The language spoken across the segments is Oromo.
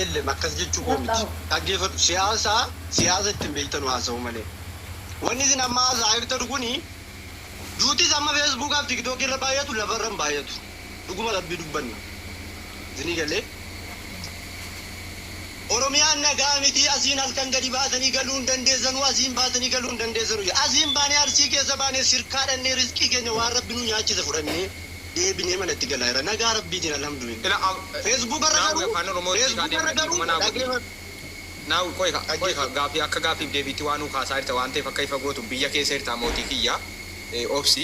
Elem akkas jechuu koo miti. Dhaggeeffadhu siyaasa siyaasa ittin beektanu haasa'uu malee. Wanni isin amma haasa'aa jirtanu kuni duutis amma feesbuukaa fi tiktookii irra baay'atu lafa irra hin baay'atu. Dhuguma rabbii dubbanna. Isinii galee? Oromiyaan nagaa miti asiin halkan gadi baatanii galuu hin dandeessanu asiin baatanii galuu hin dandeessanu. Asiin baanee Arsii keessa baanee sirkaa dhannee rizqii keenya waan rabbi nu nyaachise fudhannee. deebinee manatti galaa jirra nagaa rabbiitiin alhamdulillah facebook irra garuu facebook irra garuu dhaggeefadhu. Now qoyi kaa qoyi kaa gaafii akka gaafiif deebiitti waa nuu kaasaa jirta waan ta'eef akka ifa gootuuf biyya keessa jirtaa mootii kiyya obsi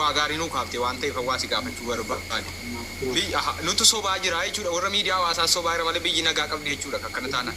waa gaarii nuu kaaftee waan ta'eef waa si gaafachuu barbaade biyyi aha nutu sobaa jiraa jechuudha warra miidiyaa hawaasaas sobaa jira malee biyyi nagaa qabdi jechuudha akkana taanaan.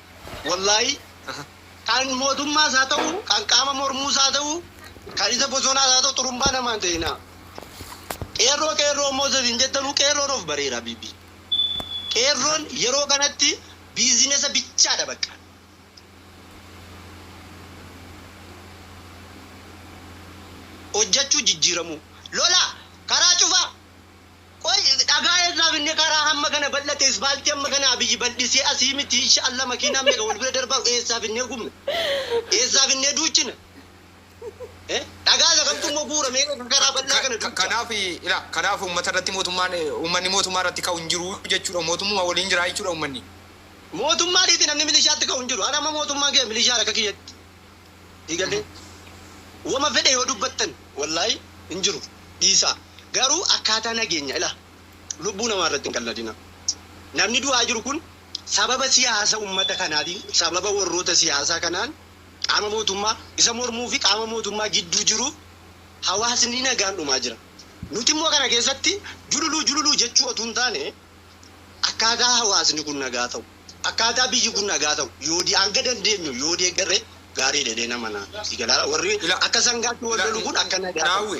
Wallaahii kan mootummaas haa ta'u, kan qaama mormuus haa ta'u, kan isa bosonaas haa ta'u xurumbaa namaa hin ta'inaa. Qeerroo qeerroo immoo isa isin jettanuu qeerroon of bareera B B. Qeerroon yeroo kanatti biizinesa bichaadha baqqa. Hojjachuu jijjiiramuu. Lola! Karaa cufaa! Qoy dhagaa eessaa finne karaa hamma kana bal'ate isfaaltii hamma kana Abiy bal'isee asii miti insha Allah makiinaan meeqa wal bira darbaa eessaa finnee gubna? Eessaa finnee duuchina? Dhagaa isa kamtu immoo bu'uura meeqa kan karaa bal'aa kana duucha? Kanaaf ilaa kanaaf uummata irratti mootummaan uummanni mootummaa irratti ka'u hin jiru jechuudha mootummuma waliin jira jechuudha uummanni. Mootummaa dhiisi namni milishaatti ka'u hin jiru. An amma mootummaan kiyya milishaadha akka kiyyatti. diigalee woma fedhe yoo dubbattan wallahi hin jiru dhiisaa garuu akkaataa nageenya ilaa lubbuu namaa irratti hin qalladina namni du'aa jiru kun sababa siyaasa ummata kanaa fi sababa warroota siyaasaa kanaan qaama mootummaa isa mormuu fi qaama mootummaa gidduu jiruuf hawaasni nagaan dhumaa jira nuti immoo kana keessatti jululuu jululuu jechuu otuu hin taane akkaataa hawaasni kun nagaa ta'u, akkaataa biyyi kun nagaa ta'u yoo di hanga dandeenyu yoo deeggarre gaariidha jedheen amana. Si galaara warri Ila- akka sangaatti wal lolu kun akka nagaa ta'u. Naawwi,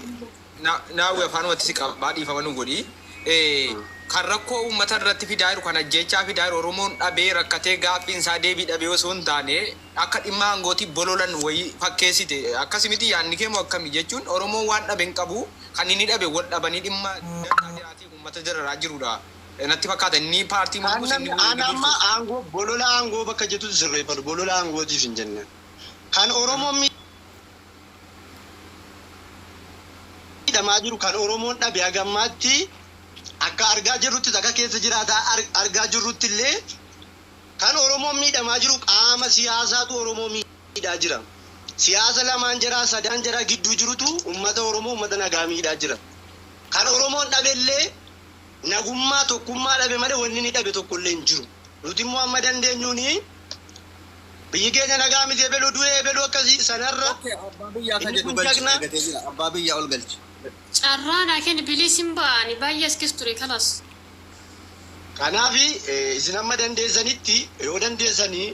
na- naawwi afaanumatti si qabaa dhiifama nu godhi. Eh, Kan rakkoo uummata irratti fidaa jiru, kan ajjeechaa fidaa jiru, Oromoon dhabee rakkatee gaaffiin isaa deebii dhabee osoo hin taane akka dhimma aangootii bololan wayii fakkeessite. Akkasi miti yaadni kee moo akkami? Jechuun Oromoon waan dhabe hin qabu, kan inni dhabe wal dhabanii dhimma dantaa biraatiif ummata dararaa jirudha natti fakkaata inni paartii mormus inni wbo mormus. An amma aangoo bolola aangoo bakka jettu sirreeffadhu bolola aangootiif hin jenne kan oromoon miidhamaa jiru kan oromoon dhabe haga ammaatti akka argaa jirruttis akka keessa jiraataa argaa jirruttillee kan oromoon miidhamaa jiru qaama siyaasaatu oromoo miidhaa jira siyaasa lamaan jaraa sadaan jaraa gidduu jirutu ummata oromoo ummata nagaa miidhaa jira. Kan Oromoon dhabellee nagummaa, tokkummaa dhabe malee wanni inni dhabe tokkollee hin jiru. Nuti immoo amma dandeenyuun biyyi keenya nagaa miti ebelu du'e, ebelu akkasi, sanarra Ok abbaa biyyaa akka inni jedhu kun galchi jagna. argatee jira abbaa biyyaa ol galchi. Carraa naa kenni please hin ba'a ani baay'ee as keessa ture kalas. Kanaaf isin amma dandeessanitti yoo dandeessanii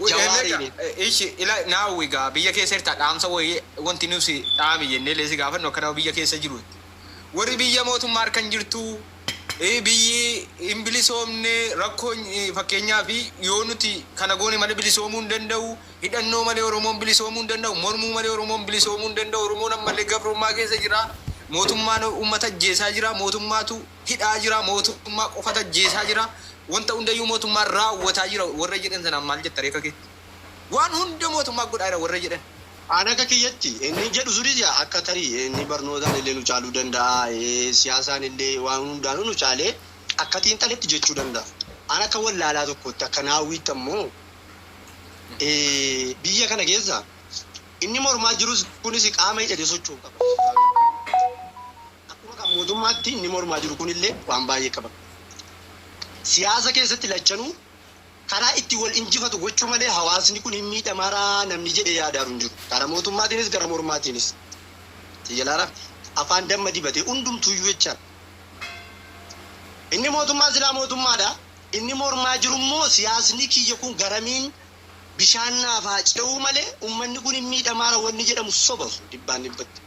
Jawaariin. Ishi ila naawwi gaa biyya keessa jirta dhaamsa wayii wanti nusi dhaami jennee lee si gaafannu akka nama biyya keessa jiruutti warri biyya mootummaa harkan jirtu biyyi hin bilisoomne rakkoon fakkeenyaaf yoo nuti kana goone malee bilisoomuu hin danda'u hidhannoo malee oromoon bilisoomuu hin danda'u mormuu malee oromoon bilisoomuu hin danda'u oromoon ammallee gabrummaa keessa jira mootummaan uummata ajjeesaa jira mootummaatu hidhaa jira, mootummaa qofatu ajjeesaa jira, wanta hundayyuu mootummaan raawwataa jira warra jedhan sanaan maal jetta ree akka keetti? Waan hunda mootummaan godhaa jira warra jedhan. An akka kiyyatti inni jedhu sunis yaa akka tarii inni barnootaan illee nu caaluu danda'a, siyaasaan illee waan hundaanuu nu caalee akka xiinxaletti jechuu danda'a. An akka wallaalaa tokkootti akka naawwiitti ammoo biyya kana keessa inni mormaa jirus kunis qaama hidhatee socho'u qaba. Akkuma kan mootummaatti inni mormaa jiru kun illee waan baay'ee qaba. Siyaasa keessatti lachanuu karaa itti wal injifatu gochuu malee hawaasni kun hin miidhamaara namni jedhee yaadaaru hin jiru. Gara mootummaatiinis gara mormaatiinis. Xiyyalaara afaan damma dibate hundumtuuyyuu jechaadha. Inni mootummaa silaa mootummaadha. Inni mormaa jiru immoo siyaasni kiyya kun garamiin bishaan naaf haa ce'uu malee ummanni kun hin miidhamaara wanni jedhamu soba sun dhibbaan dhibbatti.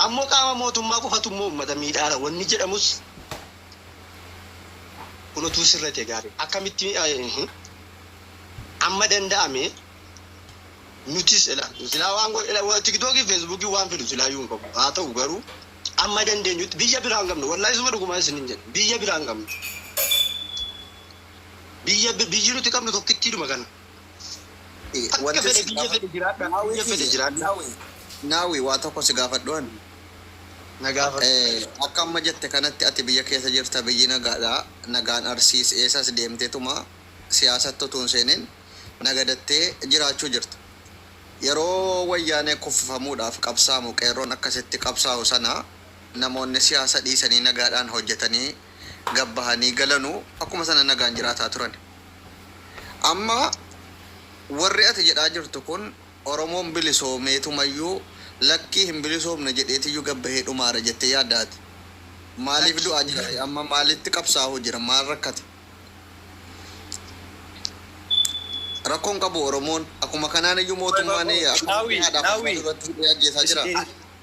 Ammoo qaama mootummaa qofatu immoo ummata miidhaara wanni jedhamus kun utuu sirra ta'e gaariidha. Akkamitti amma danda'ame nutis ila silaa waan godhe tiktookii feesbuukii waan fidu silaa iyyuu hin qabu haa ta'u garuu amma dandeenyutti biyya biraa hin qabnu wallaahi suma dhugumaa isinin jedhe biyya biraa hin qabnu biyya biyyi nuti qabnu tokkittiidhuma kana. Akka Wanti fedhe si biyya gaafa fedhe jiraadha Naawee biyya fedhe kiyya jiraadha. Naawee Naawee waa tokko si gaafadhu ani. Na gaafadhu. Eh, Akka amma jette kanatti ati biyya keessa jirta biyyi nagaadha nagaan Arsiis eessas deemteetuma siyaasatti utuu hin seenin nagadattee jiraachuu jirta. Yeroo wayyaanee kuffifamuudhaaf qabsaa'amu qeerroon akka sitti qabsaa'u sana namoonni siyaasa dhiisanii nagaadhaan hojjetanii gad bahanii galanu akkuma sana nagaan jiraataa turani. Amma warri ati jedhaa jirtu kun Oromoon bilisoomeetumayyuu lakkii hin bilisoomne jedheetiyyuu gad bahee dhumaara jettee yaaddaa ati? Maaliif du'aa jira ree? Amma maalitti qabsaahuu jira? Maal rakkate? Rakkoo hin qabu Oromoon. Akkuma kanaaniyyuu mootummaan akkuma Naawwii, Naawwii. Hidhee ajjeesaa jira.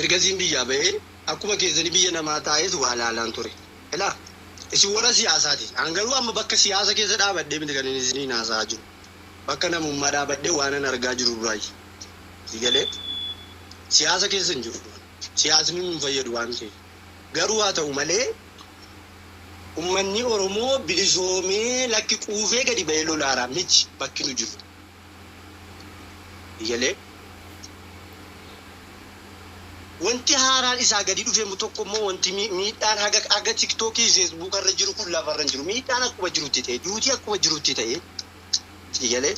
Ergasiin biyyaa ba'ee akkuma keessanii biyya namaa taa'eet waa laalaan ture. Ilaa! Isin warra siyaasaa ti. An garuu amma bakka siyaasa keessa dhaabadhee miti kanin isiniin haasa'aa jiru. Bakka namummaa dhaabadhee waanan argaa jiru irraayi. Sii galee? Siyaasa keessa hin jiru. Siyaasni nu hin fayyadu waan ta'eef. Garuu haa ta'u malee ummanni Oromoo bilisoomee lakki quufee gadi ba'ee lolaara miti bakki nu jirru. Iyyale. Wanti haaraan isaa gadi dhufe tokko immoo wanti miidhaan haga haga tiktok fi facebook irra jiru kun lafa irra hin jiru. Miidhaan akkuma jirutti ta'e, duuti akkuma jirutti ta'e. Iyyale.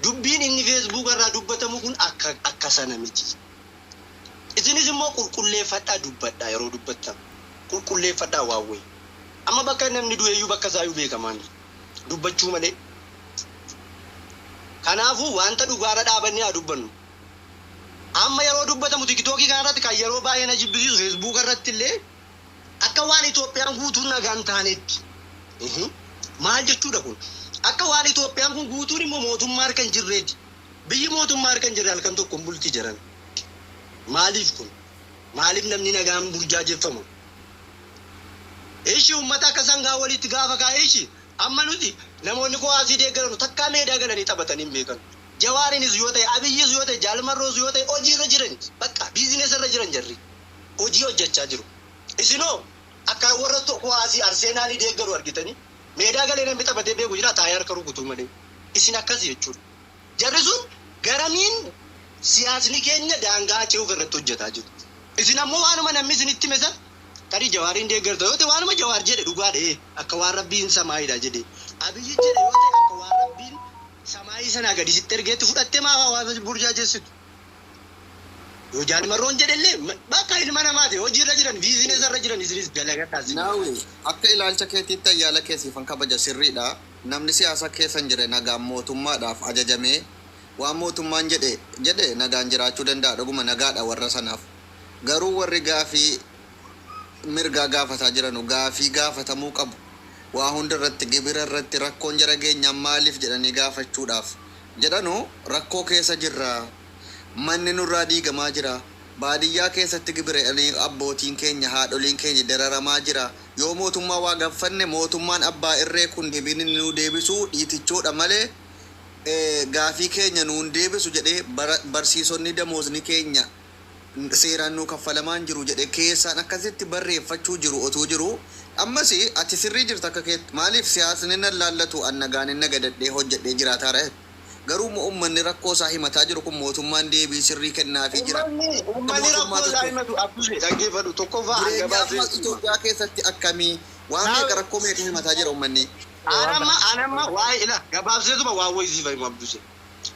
Dubbiin inni facebook irraa dubbatamu kun akka akka sana miti. Isinis immoo qulqulleeffadhaa dubbadhaa yeroo dubbattan. Qulqulleeffadhaa waan wayii. Amma bakka namni du'eeyyuu bakka isaayyuu beekamaa hin jiru. dubbachuu malee. Kanaafuu wanta dhugaa irra dhaabannee haa dubbannu. Amma yeroo dubbatamu tikitookii kana irratti kan yeroo baay'ee na jibbisiisu feesbuuka irratti illee akka waan Itoophiyaan guutuun nagaa hin taaneetti. Ihi. Maal jechuudha kun? Akka waan Itoophiyaan kun guutuun immoo mootummaa harka hin jirreetti. Biyyi mootummaa harka hin jirre halkan tokko hin bulti jedhan. Maaliif kun? Maaliif namni nagaan burjaajeffama? Ishi ummata akka sangaa waliitti gaafa kaa ishi Amma nuti namoonni kuwaasii deeggaranu takkaa meedaa galanii taphatanii hin beekanu Jawaarinis yoo ta'e Abiyyis yoo ta'e Jaal Marroos yoo ta'e hojii irra jirani baqqa business irra jiran jarri hojii hojjachaa jiru isin hoo akka warra kuwaasii Arseenaalii deeggaru argitanii meedaa galee namni taphatee beeku jiraa taa'ee harka rukutuu malee isin akkasi jechuudha. Jarri sun garamiin siyaasni keenya daangaa ce'uuf irratti hojjataa jiru? Isin ammoo waanuma namni isinitti hime san tarii Jawaariin deeggarta yoo ta'e waanuma Jawaar jedhe dhugaa dha'ee akka waan Rabbiin samaayiidha jedhe Abiyyi jedhe yoo ta'e akka waan Rabbiin samaayii sanaa gadi sitti ergeetti fudhattee maaf hawaasa burjaajessitu? Yoo Jaal Marroon jedhellee bakka ilma namaati hojiirra jiran biizinesa irra jiran isinis dalagadhaa isin Naawwii, akka ilaalcha keetiitti ayyaala kee siifan kabaja sirriidha. Namni siyaasa keessa hin jirre nagaan mootummaadhaaf ajajamee waan mootummaan jedhe jedhe nagaan jiraachuu danda'a dhuguma nagaadha warra sanaaf. Garuu warri gaafii mirgaa gaafataa jiranu gaafii gaafatamuu qabu waa hunda irratti gibira irratti rakkoon jara geenyaan maaliif jedhanii gaafachuudhaaf jedhanu rakkoo keessa jirra manni nurraa diigamaa jira baadiyyaa keessatti gibira abbootiin keenya haadholiin keenya dararamaa jira Yoo mootummaa waa gaffanne mootummaan abbaa irree kun debiin inni nuu deebisuu dhiitichoodha malee gaafii keenya nuu hin deebisu jedhee barsiisonnii damoozni keenya seeraan nuu kaffalamaa hin jiru jedhe keessaan akkasitti barreeffachuu jiru otuu jiru ammas ati sirrii jirta akka keetti maaliif siyaasni nan laallatu an nagaan nagadadhee hojjedhee jiraataara Garuu immoo ummanni rakkoo isaa himataa jiru kun mootummaan deebii sirrii kennaafii jira? Ummanni, ummanni rakkoo isaa himatu Abbushee dhaggeeffadhu tokkoffaa an Jireenyi gabaabsee amma sitti hima. Itoophiyaa keessatti akkami? Waan Naa- meeqa rakkoo meeqa himataa jira ummanni? An amma, an amma waa'ee ila gabaabseetuma waan wayii siif himu Abbushee.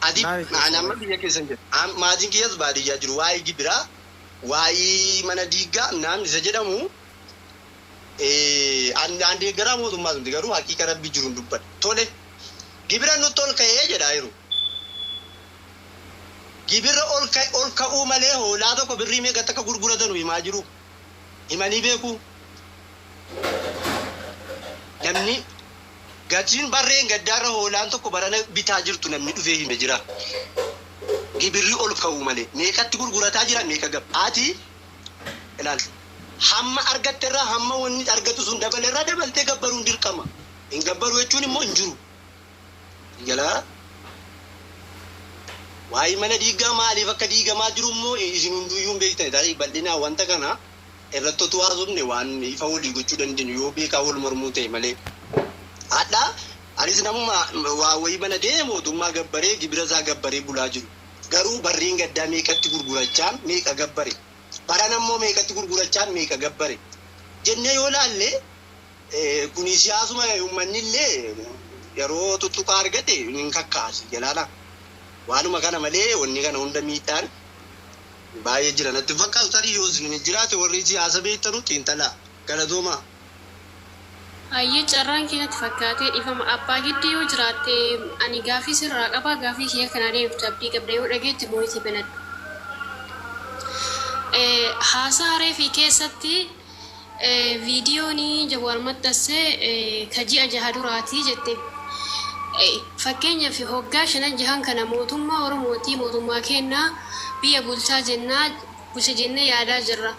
Ati Naa himu, an amma biyya keessa hin jiru. An maatiin kiyyas baadiyyaa jiru. Waa'ee gibiraa, waa'ee mana diiggaa naan isa jedhamu An an deeggaraa mootummaas miti garuu haqiiqa rabbii jiruun dubbadha. Tole gibira nutti ol ka'ee jedha yeroo. Gibirra ol ka- ol ka'uu malee hoolaa tokko birrii meeqatti akka gurguratanu himaa jiru. Himanii beeku. Namni gatiin barreen gaddaarra hoolaan tokko barana bitaa jirtu namni dhufee hime jira. Gibirri ol ka'uu malee meeqatti gurgurataa jira meeqa gab. Ati ilaali. Hamma argatte irraa hamma wanni argatu sun dabale irraa dabaltee gabbaruun dirqama. Hin gabbaru jechuun immoo hin jiru. Jalaa waa'ee mana diigaa maaliif akka diigamaa jiru immoo isin hunduuyyuu hin beektan. Tarii bal'inaa wanta kana irratti otuu haasofne waan ifa walii gochuu dandeenyu yoo beekaa wal mormuu ta'e malee. Hadhaa anis namuma waa wayii banatee mootummaa gabbaree gibira isaa gabbaree bulaa jiru. Garuu barriin gaddaa meeqatti gurgurachaan meeqa gabbare? Barana immoo meeqatti gurgurachaan meeqa gabbare? jennee yoo ilaalle kuni siyaasuma ummanni illee yeroo tuttuqaa argate hin kakka'a sii galaana. Waanuma kana malee wanni kana hunda miidhaan baay'ee jira natti hin fakkaatu tarii yoos hin jiraate warri siyaasa beektanu xiinxalaa. Galatoomaa. Hayyee carraan kee natti fakkaatee dhifama abbaa giddi yoo jiraatte ani gaafii sirraa qaba gaafii kiyya kanaa deebiftu abdii qabda yoo dhageette voice banadhu haasaha reefi keessatti vidiyooni jawaar maxxasse ka ji'a jaha duraati jette fakkeenyafi hoggaa shanan jahan kana mootummaa oromooti mootummaa keenna biyya bulchaa jennaa bulcha jenne yaadaa jirra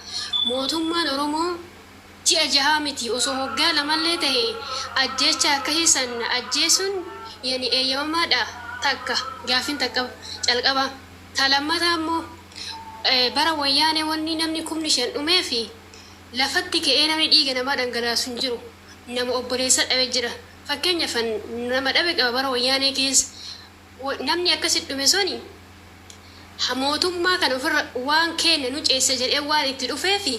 mootummaan oromoo Ji'a jahaa miti osoo waggaa lamallee tahe ajjeechaa akkasii san ajjeesuun ya ni eeyyamamaa dha? Takka gaaffiin ta calqaba. Ta lammataa immoo bara wayyaanee wanni namni kumni shan dhumee fi lafatti ka'ee namni dhiiga namaa dhangalaasu hin jiru. Nama obboleessa dhabe jira. Fakkeenyaf an nama dhabe qaba bara wayyaanee keessa. Namni akkasi dhume suni ha mootummaa kana ofirra waan keenne nu ceessa jedhee waan itti dhufeefi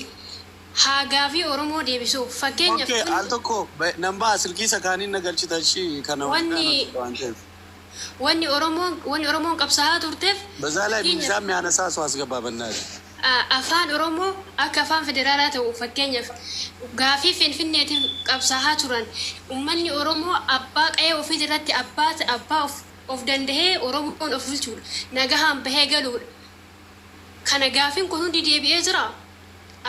haa gaafii Oromoo deebisuuf. Fakkeenyaf Ok al tokko nan baha silkii isa kaaniin na galchita ishi kana hundaan hojjedha waan ta'eef. Wanni Oromoon qabsahaa turteef. Bezaa lay miizaan mi haanasaa so asgabaa bannaatii. Afaan Oromoo akka afaan federaalaa ta'u fakkeenyaaf gaaffii Finfinneetiif qabsaahaa turan ummanni Oromoo abbaa qa'ee ofiitirratti abbaa ta, abbaa of, of dandahee Oromoon of bulchuudha, nagahaan bahee galuudha. Kana gaaffiin kun hundi deebi'ee jiraa?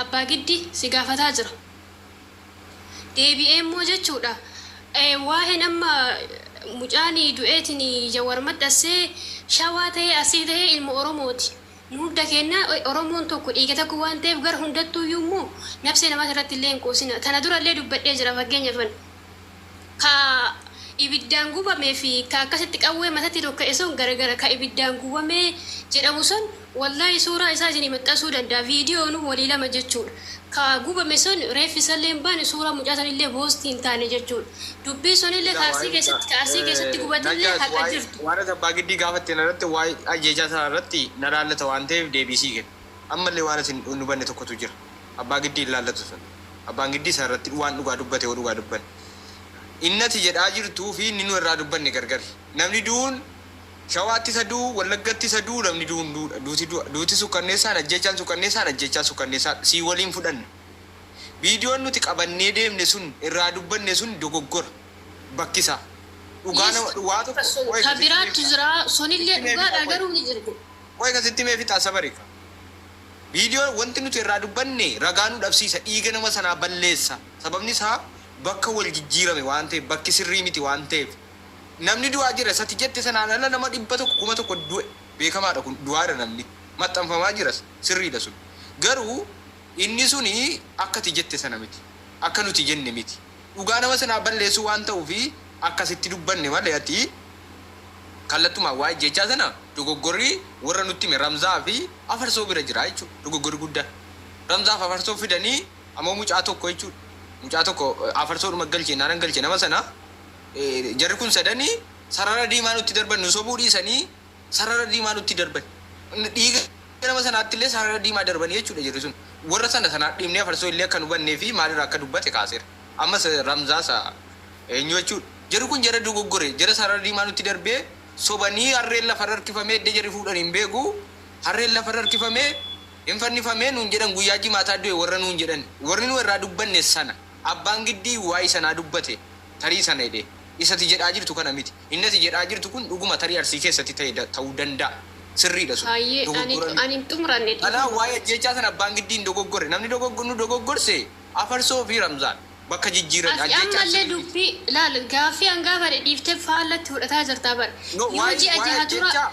Abbaa Giddi si gaafataa jira. Deebi'ee immoo jechuudha waa'een amma mucaan du'eetiin Jawar maxxassee Shawaa tahee Arsii tahee ilma Oromooti. Nu hunda keenna Oromoon tokko, dhiiga tokko waan ta'eef gara hundattuuyyuu immoo nabsee namaati irratti illee hin quusinaa. Tana dura illee dubbadhee jira fakkeenyaaf ani. Ka ibiddaan gubamee fi ka akkasitti qawwee matatti dhokka'e sun gara gara ka ibiddaan gubamee jedhamu san wallahi suuraa isaa isinii maxxansuu danda'a viidiyoonuu walii lama jechuudha. Ka gubame sun reeffi isaallee hin baane, suuraan mucaa sanillee post hin taane jechuudha. Dubbiin sunillee ka Arsii keessatti, ka Arsii keessatti gubatillee haqa jirtu. Waan ati Abbaa Giddii gaafatte na irratti waa'ee ajjeechaa sanaa irratti na laallata waan ta'eef deebii sii kenna. Ammallee waan ati hin hubanne tokkotu jira. Abbaa Giddii hin laallatu sun. Abbaan Giddii san irratti waan dhugaa dubbate hoo dhugaa dubbanne. Inni ati jedhaa jirtuu fi inni nu irraa dubbanne gargari. Namni du'uun. Shawaatti isa du'u, Wallaggatti isa du'u namni du'u hunduu dha. Duuti du'a. Duuti sukkanneessaan, ajjeechaan sukkanneessaan, ajjeechaan sukkanneessaa dha. Sii waliin fudhanna. Viidiyoon nuti qabannee deemne sun, irraa dubbanne sun dogoggora. Bakki isaa. Dhugaa Yes, nama, waa tokko, so, qoy ka ka sitti himee biraattu fixaa. jira, sonillee Sitti himee dhugaa fixaa dha, qoy. garuu ni jirgu. Qoy ka sitti himee fixaa Sabarika. Viidiyoo wanti nuti irraa dubbanne ragaa nu dhabsiisa, dhiiga nama sanaa balleessa. Sababni isaa bakka wal jijjiirame waan ta'eef, bakki sirrii miti waan ta'eef. Namni du'aa jira isa ati jette sanaan ala nama 100, 1000 du'e beekamaadha kun du'aara namni. Maxxanfamaa jiras sirriidha sun. Garuu inni suni akka ati jette sana miti. Akka nuti jenne miti. Dhugaa nama sanaa balleessuu waan ta'uufi akkasitti dubbanne malee ati kallattumaan waa'ee ajjeechaa sana dogoggorri warra nutti hime Ramzaa fi Afarsoo bira jira jechuudha dogoggorri guddaan. Ramzaa fi Afarsoo fidanii ammoo mucaa tokko jechuudha. Mucaa tokko Afarsoodhuma galche innaanan galche nama sana Jarri kun sadani sarara diimaa nutti darban nu sobuu dhiisanii sarara diimaa nutti darban. Dhiiga nama sanaatti illee sarara diimaa darbanii jechuudha jarri sun. Warra sana sanaa dhiibnee afarsoo illee akka hin hubannee fi maalirraa akka dubbate kaaseera. Ammas Ramzaasa eenyu jechuudha. Jarri kun jara dogoggore jara sarara diimaa nutti darbee sobanii harreen lafarra harkifamee edda jarri fuudhan hin beeku harreen lafarra harkifamee hin fannifamee nuun jedhan guyyaa jimaataa du'e warra nuun jedhan. Warri nu irraa dubbanne sana. Abbaan Giddii waa'ee sanaa dubbate. tarii sana jedhee. Isa ati jedhaa jirtu kana miti. Inni ati jedhaa jirtu kun dhuguma tarii Arsii keessatti ta'e ta'uu danda'a. Sirriidha sun. Hayyee ani Dogoggora ani miti. hin xumuranne Kanaaf dhiifama. waa'ee ajjeechaa sana Abbaan Giddii hin dogoggorre. Namni dogoggo nu dogoggorse Afarsoo fi Ramzaan. Bakka jijjiirani. Ati Ajjeechaan ammallee sirrii miti. dubbii ilaali gaaffii an gaafadhe dhiiftee faallatti fudhataa jirtaa bar. No, Yoo waa'ee ji'a waa'ee jaha dura ajjeechaa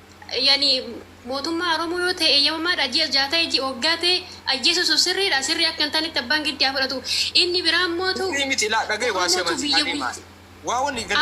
yani mootummaa oromoo yoo ta'e eeyyamamaa dha ji'a ja'a ta'e ji'a waggaa ta'e ajjeesuu sun sirrii dha sirrii akka hin taanetti abbaan giddi haa fudhatu inni biraa immoo tu Sirrii miti ilaa dhagahi waa si oromoo tu amansiisaa biyya deemaa waa wallii gala.